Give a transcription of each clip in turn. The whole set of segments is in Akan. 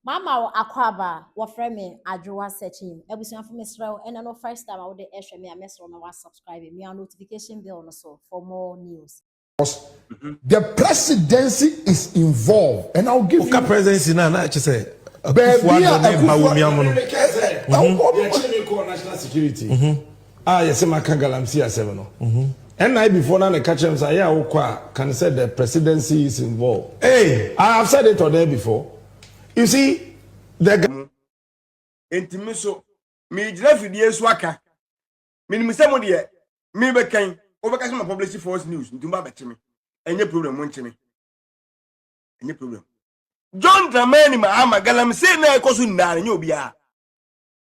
Mama wo akwaaba wɔfrɛ me adwoa searching abusuafo mesrɛ wo ɛnɛ no first time a wode ɛhwɛ me a mɛsrɛ wo ma wa subscribe mia notification bell no so for more news. The presidency is involved and I'll give you. Woka presidency na na ɛkyɛ sɛ Akufo-Addo ne Bawumia ho no. Yɛkye ne kɔɔ national security. a yɛse maka galamsey asɛm no NIB foɔ na na ɛka kyerɛ me sɛ ayɛ a wokɔ a can sɛ the presidency is involved hey I have said it on air before you see the mo enti me nso megyina fidie so aka menim sɛ mo deɛ mebɛkan wobɛka sɛ ma publish false news nti mba bɛkye me ɛnyɛ problem mo nkye me ɛnyɛ problem John Dramani Mahama galamsey na ɛkɔ so nyinaa no nyɛ obiara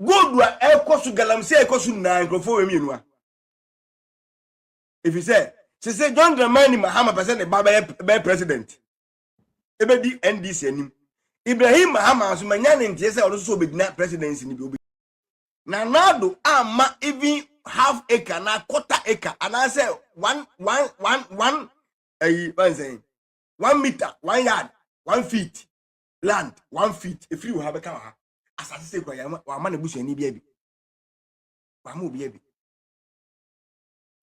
Gold a ɛkɔ so galamsey a ɛkɔ so nyinaa nkurɔfoɔ wɔ mmienu a. Ɛfiri sɛ sese John Dramani Mahama pɛ sɛ ne ba bɛyɛ bɛyɛ president ɛbɛdi NDC anim. Ibrahim Mahama nso manya ne nteɛ sɛ ɔno nso sɛ ɔbɛgyina presidency no bi obi. Na Nado amma even half acre anaa quarter acre anaasɛ one one one one ɛyi wɔn sɛn one meter one yard one feet land one feet ɛfiri wɔ ha bɛka wɔ ha asase sɛ kura yɛn wama ne busuani bi abi wama obi abi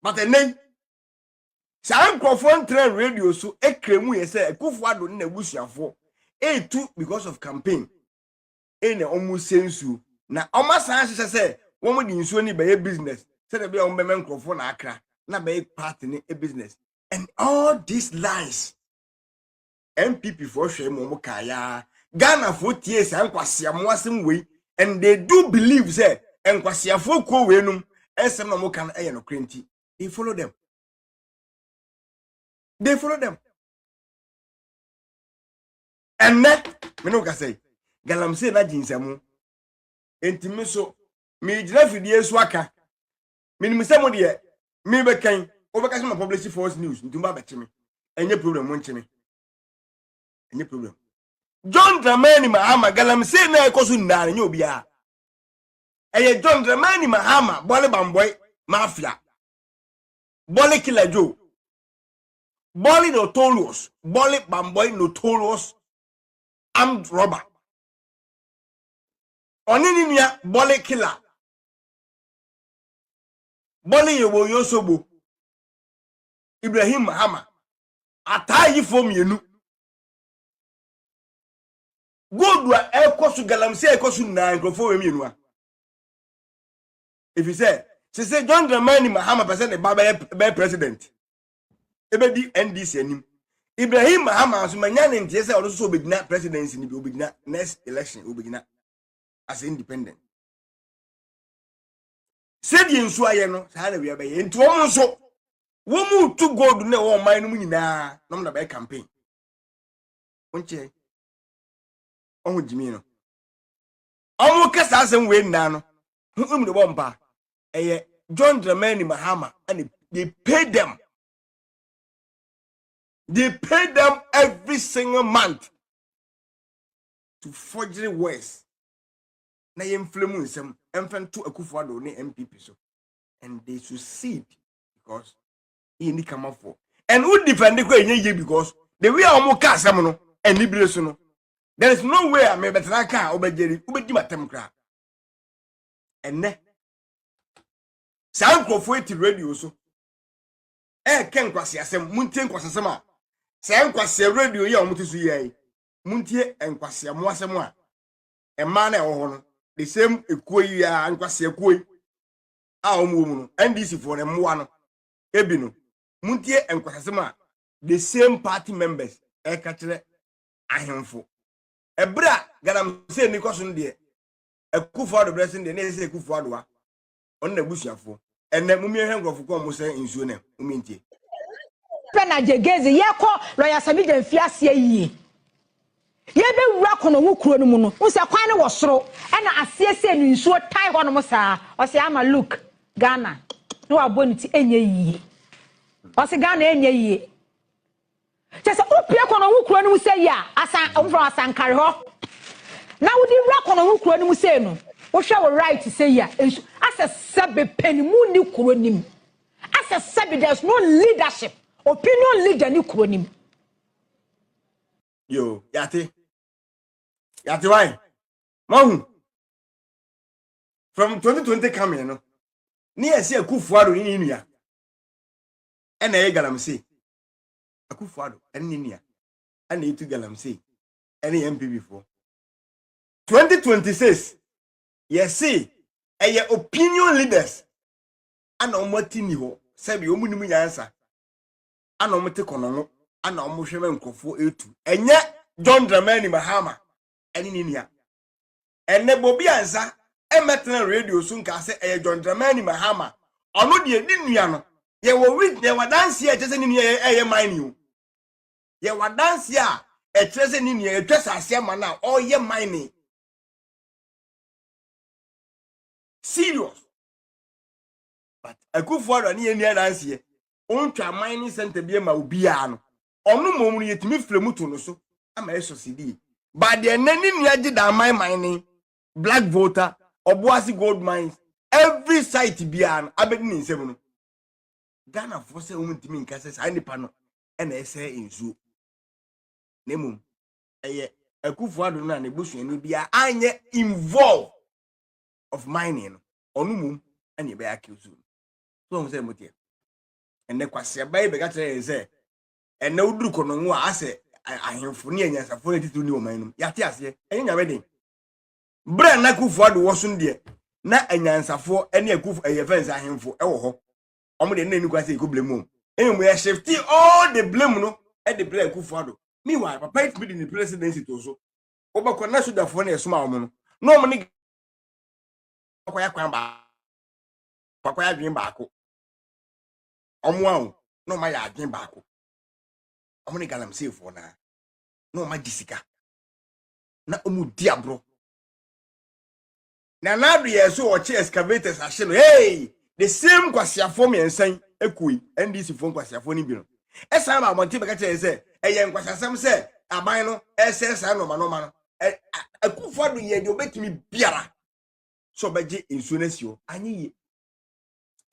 but ɛnɛ saa nkurɔfoɔ ntrɛ radio so ekire mu yɛ sɛ akufo ado ne n'abusuafoɔ etu because of campaign ɛna wɔn sɛ nsuo na wɔn asan ahyehyɛ sɛ wɔn de nsuo ne bɛyɛ business sɛdeɛ bɛyɛ wɔn bɛmɛ nkurɔfoɔ na akra na bɛyɛ party ne business and all these lies. npp foɔ hwɛe ma ɔmo kaa yaa ghana foɔ tie saa nkwasia mo asɛm wei and they do believe sɛ nkwasiafoɔ kuo wei nom nsɛm na ɔmo ka no ɛyɛ nokorɛ nti they follow them they follow them ɛnɛ me ne wo kasa yi galamsey na gye nsamu nti me so megyina fidie so aka menim sɛ mo deɛ mebɛkan wobɛka sɛ ma publish false news nti ba bɛkye me ɛnyɛ problem mo nkye me ɛnyɛ problem john dramani mahama galamsey na ɛkɔ so nnaa no nyɛ obiara ɛyɛ john dramani mahama bɔle bambɔe mafia bɔle killer joe bɔle notorious bɔle bambɔe notorious armed robber ɔne ne nua bɔle killer Bɔne yɛ wɔ Yosobo, Ibrahim Mahama, ataayifoɔ mmienu. Gold a ɛkɔ so galamsey a ɛkɔ so nyinaa nkurɔfoɔ wɔ mmienu a. Ɛfiri sɛ, sese John Dramani Mahama pɛ sɛ ne ba bɛyɛ bɛyɛ president. Ɛbɛdi NDC anim. Ibrahim Mahama nso manya ne nteɛ sɛ ɔno nso sɛ ɔbɛgyina presidency no bi, ɔbɛgyina next election, ɔbɛgyina as independent. sɛdeɛ nsuo ayɛ no saa na wia bɛyɛ nti wɔn nso wɔn mu tu gold na ɛwɔ ɔman no mu nyinaa na wɔn na bɛyɛ campaign wɔn kyɛ ɔho gyimi no wɔn kɛ saa asɛm wei nyinaa no ho emu de bɔ mpa ɛyɛ john dramani mahama ɛna they pay them they pay them every single month to forgery words na yɛmfrɛ mu nsɛm mfa nto akufo ado ne npp so and they succeed because yɛ ni kamafoɔ and wo defend kɔ ɛnyɛ yie because the way a wɔn ka asɛm no anibire so no there is no way a mebɛtena ka a wobɛgyeri wobɛdi matam koraa ɛnɛ saa nkurɔfoɔ eti radio so ɛɛkɛ nkwasi asɛm mu ntie nkwasi asɛm a saa nkwasi radio yi a wɔn ti so yɛ yi mu ntie nkwasi amu asɛm a mmaa no a ɛwɔ hɔ no the same ekuo yi a nkwasea kuo yi a wɔn wɔ mu no ndc foɔ no mmoa no ebi no muntie nkwasasɛm a the same party members ɛka kyerɛ ahemfo ɛberɛ a galamsey ni kɔ so no deɛ akufo adobrɛ so no deɛ ne yɛ sɛ akufo adoa ɔno na abusuafoɔ ɛnɛ mumi ɛhwɛ nkurɔfo kɔn mo sɛ nsuo nɛ mumi ntie. pɛ na gyegezi yɛkɔ lɔya samigya mfi aseɛ yie yɛbɛwura kɔnɔ ho kuro no mu no wo sɛ kwan no wɔ soro ɛna aseɛ sɛ no nsuo tae hɔ nom saa ɔsɛ ama look Ghana na wabɔ ne ti ɛnyɛ yie ɔsɛ Ghana ɛnyɛ yie Kyerɛ sɛ, wopue kɔ Nɔnho kuro no mu sei a, Asan, wɔfrɛ hɔ Asankare hɔ, na wode wura kɔ Nɔnho kuro no mu sei no, wohwɛ wo right sei a, nsu, asɛ sɛbe panin mu nni kuro no mu. Asɛ sɛbe there is no leadership, opinion leader ni kuro no mu. Yo, yate. Yate why? Mahu. From 2020 coming no, ne yɛsi Akufo-Addo ne ne nua. ɛna ɛyɛ galamsey akufo ado ɛne ne nua ɛna etu galamsey ɛne yɛn mpibifoɔ 2026 yɛse ɛyɛ opinion leaders ana wɔn ati ni hɔ sɛbi wɔn nim nyansa ana wɔn te kɔnɔno ana wɔn hwɛ ma nkurɔfoɔ etu ɛnyɛ john dramani mahama ɛne ne nua Ɛnnɛ Bobby Ansah mmɛtena radio so nkaa sɛ ɛyɛ John Dramani Mahama, ɔno deɛ ne nua no. Yɛwɔ wit, yɛwɔ adanseɛ a ɛkyerɛ sɛ ne nua yɛ ɛyɛ mining o. Yɛwɔ adanseɛ a ɛkyerɛ sɛ ne nua yɛtwa saase ama no a ɔyɛ mining. Serious. But Akufo-Addo ne yɛnni adanseɛ. Ɔntwa mining centre bi ma obiara no, ɔno mmom no yɛtumi frɛ mu to no so ama ɛsɔsedie ba deɛ ɛnɛ ne nua gye da aman man ne black voter ɔboase gold mines every site biara no abɛdi ne nsam no ghanafoɔ sɛ wɔn ntumi nka sɛ saa nipa no ɛna ɛsɛ nsuo na mmom ɛyɛ akufo ado no a ne busuani biara anyɛ involve of mining no ɔno mmom ɛna ɛbɛyɛ akiw so so wɔn sɛ mo teɛ. ɛnɛ kwaseaba yi bɛka kyerɛ yɛn sɛ ɛnɛ woduru kɔnɔngo a asɛ ahemfo ne anyansafo ne titiriw ne ɔman no yɛate aseɛ ɛnyɛ nyame den berɛ a na akufo ado wɔ so deɛ na anyansafoɔ ne akufo ɛyɛ fɛn sɛ ahemfo ɛwɔ hɔ wɔn deɛ ne nikwa sɛ ɛkɔ blame wɔn mmom yɛhyɛfte all the blame no ɛde berɛ akufo ado meanwhile papa yi tumi de ne presidency to so wobɛkɔ na sogyafoɔ no ɛsoma wɔn no na wɔn ne akɔyɛ kwan baako akɔyɛ adwene baako wɔn a o na wɔn ayɛ adwene baako wɔn ne galamseefoɔ naa na wɔn agye sika na wɔn di agorɔ na n'ado yɛ so ɔkye excavators ahye no hey the same nkwasiafoɔ mmiɛnsa yi ekui ndc foɔ nkwasiafoɔ no bi no ɛsan ba abɔnten bɛka kyerɛ yɛn sɛ ɛyɛ nkwasiasɛm sɛ aban no ɛsɛ saa nɔɔma nɔɔma no ɛ akufo ado yɛ deɛ ɔbɛtumi biara sɛ ɔbɛgye nsuo no asi hɔ anyɛ yie.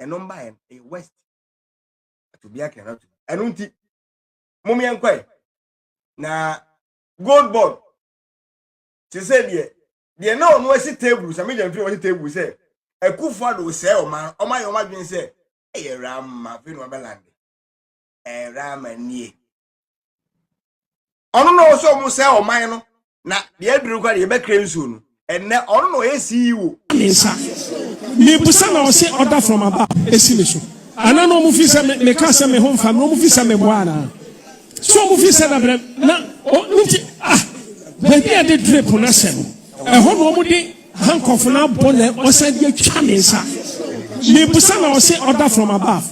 ɛno mbaeɛ no ɛyɛ west ɛto bi akɛn ato ɛno nti mom yɛn kɔɛ na gold board te sɛ deɛ deɛ na ɔno asi table sɛ megya mfiri wɔsi table sɛ akufo ado sɛɛ ɔma ɔma yɛ ɔma dwen sɛ ɛyɛ rama afei na ɔbɛlande ɛɛ rama nie ɔno na ɔsɛ ɔmo sɛ ɔman no na deɛ aduru kora deɛ yɛbɛkra nsuo no ɛnɛ ɔno na ɔyɛ CEO. ne nsa mebusa na ɔse order from above ɛsi me so ana na ɔmo fi sɛ me meka sɛ me ho mfa me na ɔmo fi sɛ me boa anaa so ɔmo fi sɛ na brɛ na ɔmo nti ah baabi a yɛde drip no ahyɛ no ɛhɔ na ɔmo de Aha nkurɔfo no abɔ na wɔsan de atwa me nsa. Mebisa na wɔse order from above.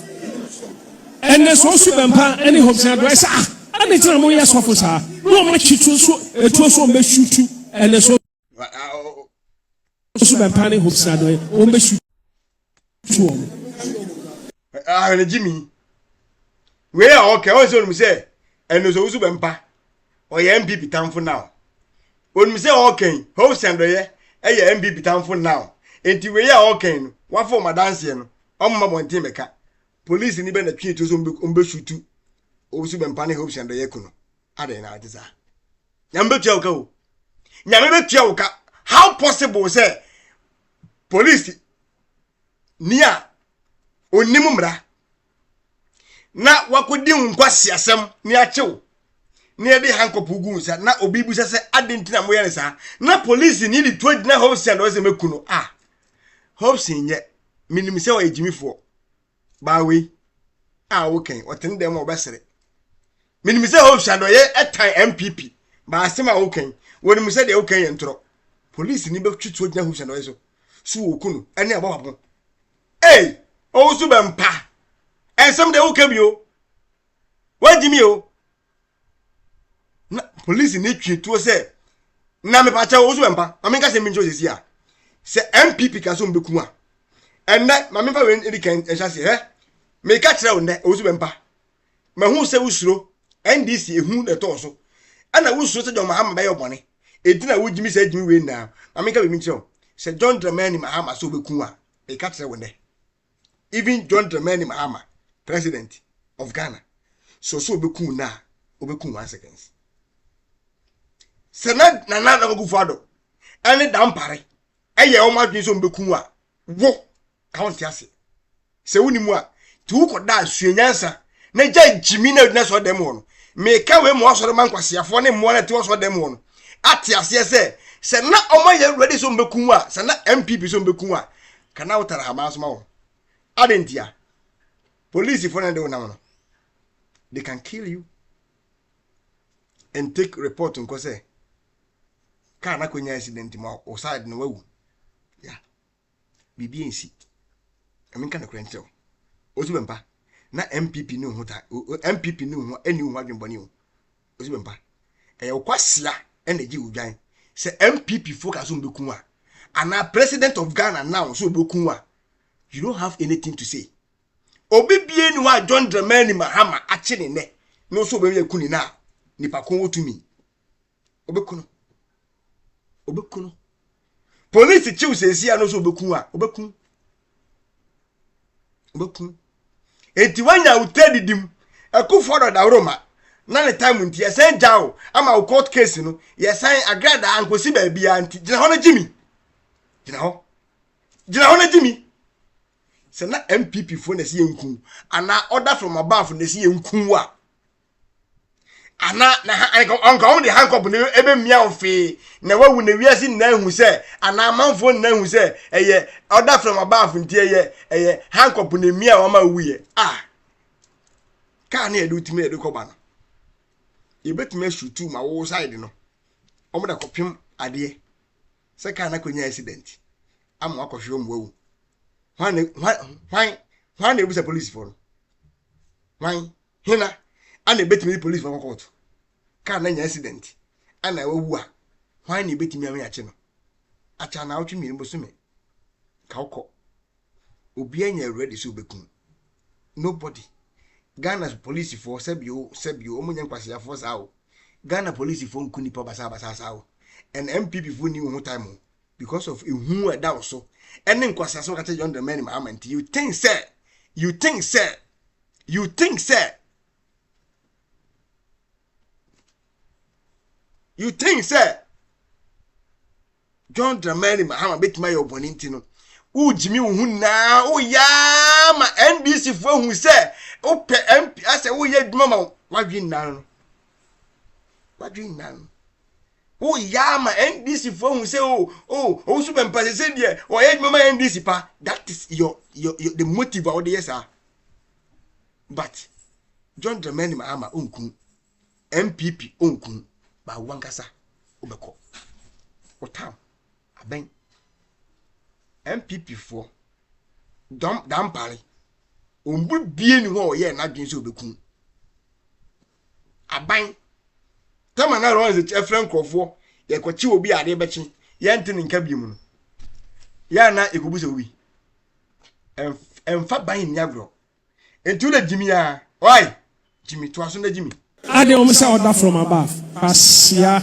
Ɛnɛ sɛ ɔso bɛmpa ne hopes na doɛ sɛ ah ɛne tena mo yɛ sɔfo saa na wɔn akyi to so etuo so wɔn bɛsu tu ɛnɛ sɛ ɔso bɛmpa ne hopes na doɛ wɔn bɛsu ahene gyimi wei a ɔkɛ ɔn sɛ onim sɛ ɛno sɛ wosu bɛmpa ɔyɛ mpp tamfo now onim sɛ ɔkɛn hope sɛndɔyɛ ɛyɛ mpp tamfo now nti wei a ɔkɛn no wafɔ ɔmo adanseɛ no ɔmo ma bɔnten bɛka polisi ni bɛ na twi etu so ɔmo bɛ sutu osu bɛmpa ne hope sɛndɔyɛ ku no adɛn na ɔte saa nyame bɛ tua wo ka o nyame bɛ tua wo ka how possible sɛ polisi ni a ɔnim mmara na wakɔdi wo nkwaseasɛm ne akyew na yɛde hankɔpo gu nsa na obi bisa sɛ ade nti na moyɛ no saa na polisi ni de to agyina hobson ɔsɛ mɛku no a hobson nyɛ menim sɛ ɔyɛ gyimifoɔ baa wei a wokɛn ɔte ne dɛm ma ɔbɛsere menim sɛ hope sɛ adɔyɛ ɛtan mpp baa asɛm a wokɛn wɔnim sɛ deɛ wokɛn yɛ ntorɔ polisi ni bɛtwe tuo gyina hope sɛ adɔyɛ so so wɔku no ɛne abɔ papo ei ɔwo so bɛmpa ɛnsɛm deɛ wokɛ bi o wagye mi o na polisi ne twi tuo sɛ na mepakyɛ wo so mpa ma menka sɛ menkyɛ osisi a sɛ mpp ka so mbɛku a ɛnnɛ ma memfa wei ɛdi kan ɛhyɛ ase hɛ meka kyerɛ wo nnɛ ɛwo so mpa mahu sɛ wosuro ndc ehu na ɛtɔɔ so ɛna wosuro sɛ john mahama bɛyɛ ɔbɔne ɛti na wogyimi sɛ agyimi wei nyinaa ma menka wei menkyerɛ wo sɛ john dramani mahama sɛ wobɛku a meka kyerɛ wo nnɛ even john dramani mahama president of ghana so so obeku na obeku one seconds sɛ na nana na ogu fado ɛne dampare ɛyɛ wɔn adwene sɛ obeku a wo ka wɔn ti ase sɛ wo ni mu a ti wo kɔ da sua nyansa na gya gyimi na odina so ɔdɛm wɔ no meka wei mu asɔre ma nkwaseafoɔ ne mmoa na ti wɔ so ɔdɛm wɔ no ate aseɛ sɛ sɛ na wɔn ayɛ ready sɛ obeku a sɛ na mpp sɛ obeku a Ka na wotare haban so ma wɔn. Adɛn ntia? Polisifo na ɛde wo nam no. They can kill you and take report nkɔ sɛ kaa na kɔnya accident ma wo side no wawu. Yeah. Biribi nsi. Ɛmi nka nokorɛ nkyerɛ wo. Osu bɛmpa. Na MPP ne ho ta MPP ne ho ɛni ho adwembɔne o. ɔsi me mpa ɛyɛ wo kwasia ɛna egye wo dwan sɛ npp fo ka so mbɛku a anaa president of ghana now so ɔbɛku a you don't have anything to say obi bie ni hɔ a john dramani mahama akye ne nɛ no so ɔbɛmi aku ne na a nipa ko wɔ tumi ɔbɛku no ɔbɛku no polisi kyew sɛsi a no so ɔbɛku a ɔbɛku bɛkum enti woanya awotire didi mu akufoɔ dɔ dawuroma na ne time nti yɛsan gya wo ama wo court case no yɛsan agradaa nkɔsi baabiara nti gyina hɔ no gye mi gyina hɔ gyina hɔ no gye mi sɛ na mpp foɔ na ɛsi yɛn kun anaa order from above na ɛsi yɛn kun wa ana na ɔnka wɔn de hankɔp na ɛbɛmia wɔn fee na wawu na wiase nyinaa hu sɛ anaa amanfoɔ nyinaa hu sɛ ɛyɛ ɔda from above nti ɛyɛ ɛyɛ hankɔp na ɛmia wɔn a wuyɛ a kaa ne yɛde wotumi yɛde kɔba no yɛbɛtumi asutu ma wo side no wɔn de akɔpem adeɛ sɛ kaa no akɔnya accident ama wakɔhwe wɔn wawu hwan hwan hwan na ebusa polisifoɔ no hwan. hena ana ebetumi de polisifo akɔ kɔɔto? Kaa no anya accident anaa wawu a, hwan na ebetumi ama yɛakye no? Akyɛ anaawɔtwe mmienu bosome ka wokɔ. Obiara nyɛ ready sɛ obekum. Nobody. Ghana polisifoɔ sɛbi o sɛbi o wɔn nyɛ nkwaseafoɔ saa o. Ghana polisifoɔ nku nipa basabasa saa o. Ɛna NPP foɔ ni wɔn ho time o because of ehu a ɛda wɔ so ɛne nkwaseasɛm a wɔka kyerɛ John Dramani Mahama nti you think sɛ you think sɛ you think sɛ you think sɛ john dramani mahama bɛtumi ayɛ ɔbɔne nti no wogyimi wo ho nyinaa woyaa ma ndc foɔ ahu sɛ wopɛ mp asɛ woyɛ adwuma ma wadwe nnan no wadwe nnan no Wo yɛ ama NDC foɔ ahu sɛ oh oh ɔwusu bɛmpa sɛ sɛ deɛ ɔyɛ adwuma ma NDC pa that is your, your, your the motive a wode yɛ saa but John Dramani Mahama ɔnku MPP ɔnku ba wankasa wobɛkɔ wotam abɛn MPP foɔ dɔm dampare ɔmbu bie ne hɔ a ɔyɛ n'adwene sɛ ɔbɛku aban tam a na Lawrence kyerɛ nkurɔfoɔ yɛkɔkye obi a adeɛ bɛkye yɛnte ne nka bio mu no yɛ a na yɛkɔbu sɛ obi ɛmfa ban nni agorɔ nti wo na gyimi a ɔai gyimi toa so na gyimi ade wɔn sɛ ɔda from above kwasia.